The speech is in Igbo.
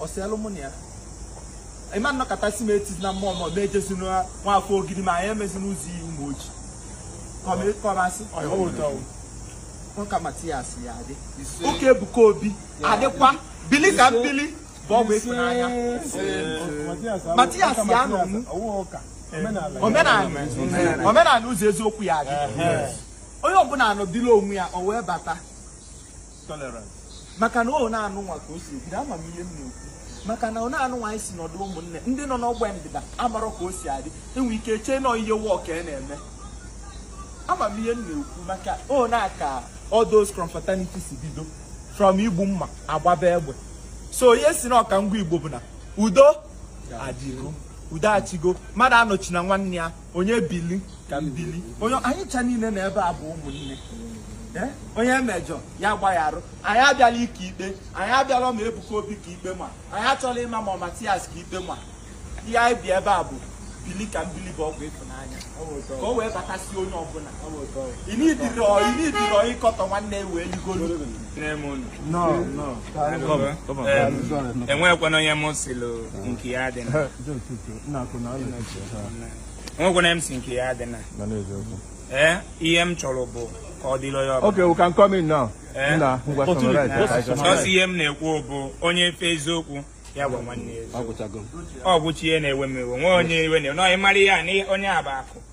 ọ sị alụ mụ na ya ịma nnọkọtasị m etizi na mmụọ ma ọ na-ejezi nwa afọ ogidi ma anyị emezi n'ụzọ iyi ụmụ ojii ka ọ masị ka matias ya adị ụka ebuka obi adịkwa bili ka m bili bụ ọgwụ ịfụnanya matias ya nọ mụ omenala omenala ụzọ eziokwu ya adị onye ọbụla anọdịla onwe ya o wee bata tolerant maka na ọ na-anụ nwa ka o si ebido ama m ihe m na-ekwu maka na ọ na-anụ nwa anyị si nọdụ ụmụnne ndị nọ n'ọgba ndịda amarọ ka o si adị enwe ike chee na ọ ihe work a na-eme ama m ihe m na-ekwu maka ọ na-aka all those confraternity si bido from igbu mma agbaba egbe so ihe si na ọka ngwa igbo bụ na udo adịgo udo achịgo mmadụ anọchina nwanne ya onye bili ka m bili onye anyị cha niile na ebe a bụ ụmụnne Eh? onye mejọ ya gbayarụ anyị abịala ike ikpe anyị abịala ma ebuka obi ka ikpe ma anyị achọla ịma ma ọ matias ka ikpe ma ihe anyị bịa ebe a bụ bili ka m bili bụ ọgwụ ịfụnanya ka o wee batasị onye ọbụla inidiro ịkọtọ nwanne ya wee ligoro enwekwana onye m sịlụ nke ya adịna enwekwana m sị nke ya adịna ee ihe m chọrọ bụ ka ọ dịrị onye ọbụla Okay, we can come in now. Eh? Nna, ngwa summarize ya ka anyị chọrọ. ọsọ ihe m na-ekwu bụ onye fụ eziokwu ya gwa nwanne ya eziokwu ọ gwụcha ihe na-ewe m iwe nwee onye iwe na-ewe na ị mara ihe a na onye a bụ akụ